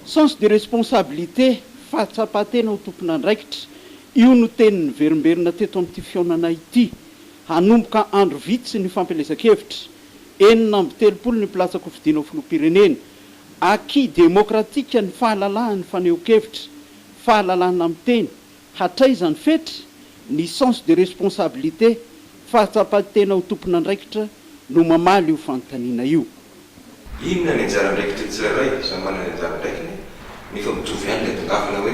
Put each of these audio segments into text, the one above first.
Sens de responsabilité, fahatsapan-tena ho tompon'andraikitra, io no teny niverimberina teto amin'ity fihaonana ity. Hanomboka andro vitsy ny fampielezan-kevitra. Enina amby telopolo ny mpilatsa-kofidina ho filoham-pirenena. Acquis démocratique ny fahalalahan'ny fanehoan-kevitra, fahalalahana miteny, Hatraiza ny fetra? Ny sens de responsabilité, fahatsapan-tena ho tompon'andraikitra, no mamaly io fanontaniana io. Inona ny anjara andraikitry ny tsirairay? Samy manana ny anjara andraikiny, nefa mitovy ihany ilay tongavana hoe,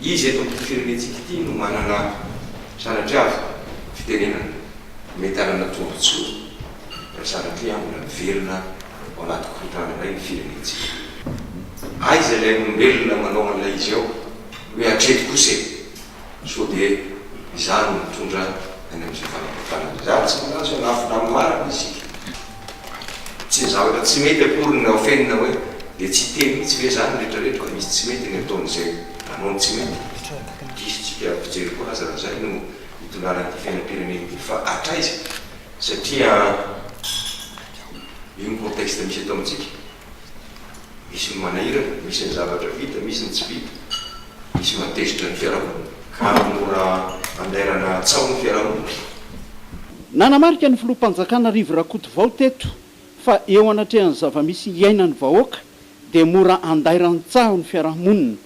iza eto amin'ity firenentsika ity no manana sanatria avy fitenenana mety hanana tombontsoa raha sanatria avy mbola miverina ao anaty korontana indray ny firenentsika? Aiza ilay olombelona manao an'ilay izy ao? Hoe hatreto kosa e! Sao dia izaho no mitondra any amin'izay fanapotranana izay. Ary tsy milaza hoe hanafina amin'ny marina isika. Tsy ny zavatra tsy mety akory no afenina hoe dia tsy hiteny mihitsy ve izany ny rehetrarehetra fa misy tsy mety ny ataon'izay nanao ny tsy mety? Diso tsika amin'ny fijery koa aza raha izay no itondrana ity fiainam-pirenena ity fa hatraiza satria io ny contexte misy eto amintsika. Misy ny manahirana, misy ny zavatra vita, misy ny tsy vita, misy matezitra ny fiarahamonina ka mora andairana tsaho ny fiarahamonina. Nanamarika ny Filoham-panjakana Rivo Rakotovao teto fa eo anatrehan'ny zava-misy iainan'ny vahoaka dia mora andairan-tsaho ny fiarahamonina.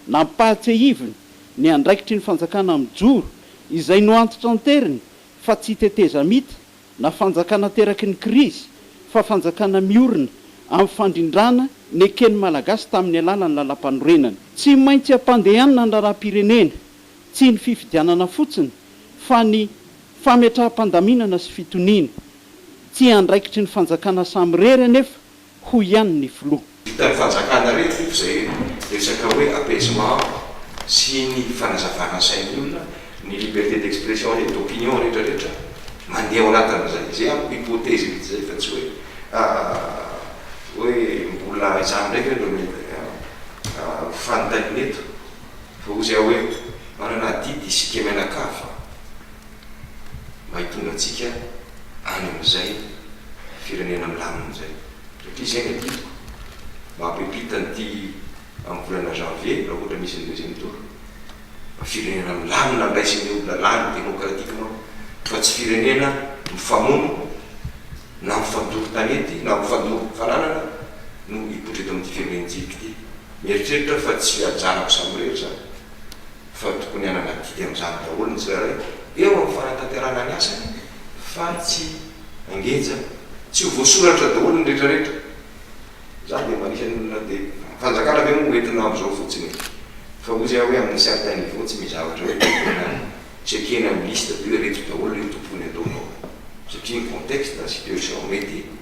Nampahatsiahiviny ny andraikitry ny fanjakana mijoro izay noantitranteriny fa tsy tetezamita Na fanjakana teraky ny krizy fa fanjakana miorina amin'ny fandrindrana neken'ny Malagasy tamin'ny alalan'ny Lalampanorenana. Tsy maintsy ampandehanina ny Raharaham-pirenena, tsy ny fifidianana fotsiny fa ny fametraham-pandaminana sy fitoniana. Tsy andraikitry ny fanjakana samirery anefa hoy ihany ny filoha. Vitan'ny fanjakana re tompoko izay resaka hoe apaisement sy ny fanazavana sain'ny olona, ny liberté d'expression et d'opinion rehetra rehetra, mandeha ao anatin'izay izay amiko hypothèse vitsy izay fa tsy hoe hoe mbola izany indray ve no mety ho fanontaniana eto fa hoy zay aho hoe manana adidy isika mianakavy fa. mba hitondra antsika any amin'izay firenena milamina izay. Satria izay no adidiko, mba hampipita an'ity amin'ny volana janvier, raha ohatra misy ny deuxième tour, mba firenena milamina handraisany eo lalàna démocratiquement, fa tsy firenena mifamono na mifandoro tanety na mifandoro fananana no hipoitra eto amin'ity firenentsika ity. Mieritreritra aho fa tsy ajanako samirery izany. fa tokony hanana adidy amin'izany daholo ny tsirairay eo amin'ny fanatanterahana ny asany fa tsy hangenja tsy ho voasoratra daholo ny retraretra, za dia mba anisan'ny olona dia fanjakana ve moa no entina amin'izao fotsiny e? fa ozy aho hoe amina certain niveau tsy misy zavatra hoe entina checkena amin'ny liste de hoe reto daholo ireo tompony ataonao satria ny contexte, situation mety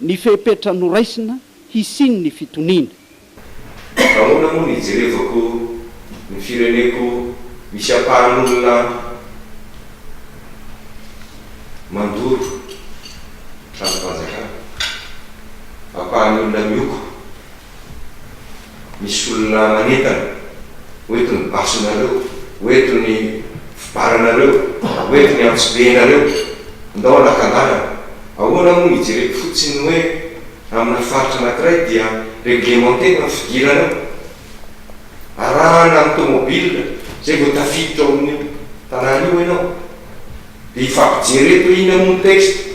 ny fepetra noraisina hisian'ny fitoniana. Nahoana moa no ijerevako ny fireneko misy ampahan'olona mandoro tranom-panjakana, ampahan'ny olona mioko? Misy olona manentana ho eto ny basinareo, ho eto ny fibaranareo, ho eto ny antsibenareo. Ndao anakan-dalana. Ahoana moa no hijereko fotsiny ny hoe amina faritra anankiray dia reglemente ny fidirana ao? Arahana amin'ny tomobila izay vao tafiditra ao amin'io tanàna io ianao. Dia hifampijery eto inona moa ny texte?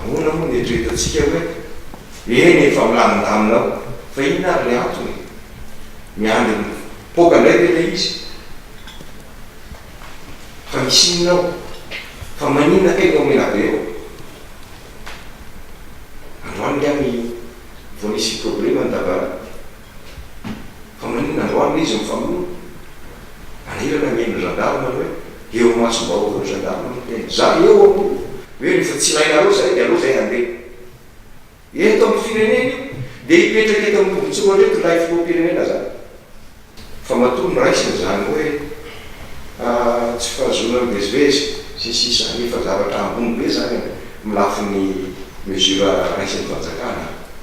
Ahoana moa no eritreretantsika hoe, eny e, fa milamindamina ao, fa inona ary ilay antony e? Miandry mipoaka indray ve ilay izy? Fa misy inona ao? Fa maninona kay no mena be ao? Androany angaha ny vao nisy probleme ny dabara? Fa maninona androany le izy mifamono? Maniraka ny ain'ny gendarme nareo e! Eo imasom-bahoaka eo ny gendarme ry tena. Za eo aho io. Hoe rehefa tsy ilainareo zahay de aleo zahay handeha. Eto amin'ny firenena io de hipetraka eto amin'ny tobin-tsoa reto ilay filoham-pirenena zany. Fa matoa noraisiny zany hoe tsy fahazoana mivezivezy sy ny sisa nefa zavatra ambony be zany amin'ny lafiny mesure raisiny fanjakana.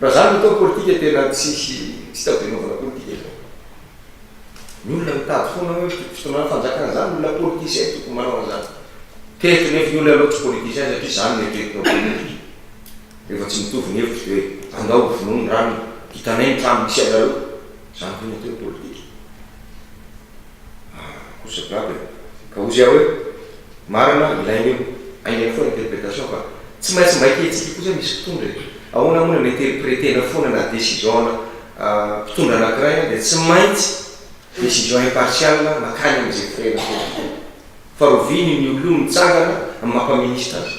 Raha zany no atao ny politika tena tsisy tsy tao de anaovana politika zany. Ny olona mitady foana hoe fitondrana fanjakana zany olona politicien tokony manao anzany. Teto nefa ny olona alou tsy politicien satria zany no eritreritiny ao politika. Rehefa tsy mitovy ny hevitra de hoe andao ho vonoy ny rano, hitanay ny trano misy anareo. Zany ve no atao hoe politika. Ah! kosa grave eh! Ka hozy aho hoe, marina, ilaina io, hainay foana interpretation fa tsy maintsy mba hitentsika kosa misy mpitondra e! Ahoana moa na mi-interpreter-na foana na décision-na mpitondra anankiray an dia tsy maintsy décision impartial makany amin'izay firehana foana foana. Fa roviany ny olona io mitsangana amin'ny maha-mpaminista azy.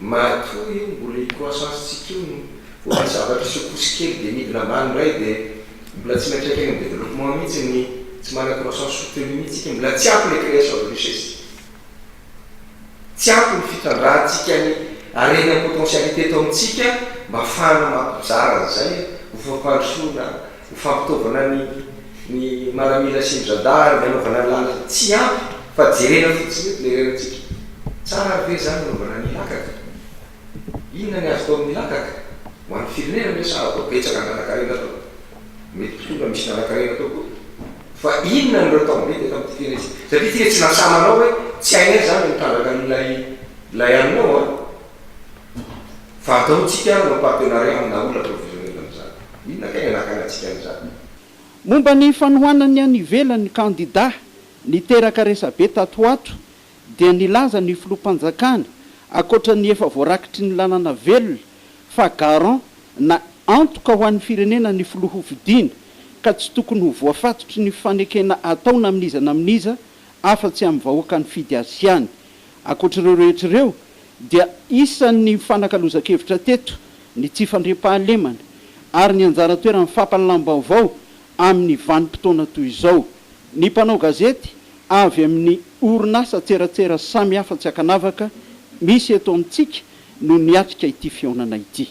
Matoa io mbola io croissance tsika io no ohatry ny zavatra secousse kely dia midina ambany indray dia mbola tsy miantraika any amin'ny développement mihitsy ny tsy manana croissance soutenue mihitsy tsika mbola tsy ampy ilay création de richesse tsika tsy ampy ny fitrandrahantsika ny harena potentialité eto amintsika mba afahana mampizara an'izay ho fampandrosoana Ho fampitaovana ny ny maramila sy ny radar amin'ny hanaovana lalana tsy ampy fa jerena fotsiny eto ilay renintsika. Tsara ary ve izany ny hanaovana ny lakaka? Inona ny azo atao amin'ny lakaka? Ho an'ny firenena ve sa atao betsaka ny lalan-karena atao? Mety koa na misy lalan-karena atao koa. Fa inona no atao mety eto amin'ity firenena ity? Satria ity ve tsy nasamanao hoe tsy hainay izany ny mitrandraka an'ilay ilay haninao an? Fa ataontsika hanao partenariat amina aula provisionnelle amin'izany. Inona kay ny anakanantsika amin'izany? Momba ny fanohanany any ivelany ny kandidà niteraka resabe tato ho ato dia nilaza ny filoham-panjakana, ankoatra ny efa voarakitry ny lalana velona, fa garant na antoka ho an'ny firenena ny filoha hofidiana ka tsy tokony ho voafatotry ny fanekena ataona amin'iza na amin'iza afa-tsy amin'ny vahoaka nifidy azy ihany. Ankoatra ireo rehetra ireo dia isan'ny nifanakalozan-kevitra teto ny tsy fandriampahalemana ary ny anjara toeran'ny fampahalalam-baovao amin'ny vanim-potoana toy izao. Ny mpanao gazety avy amin'ny orinasa an-tseratsera samihafa tsy ankanavaka misy eto amintsika no niatrika ity fihaonana ity.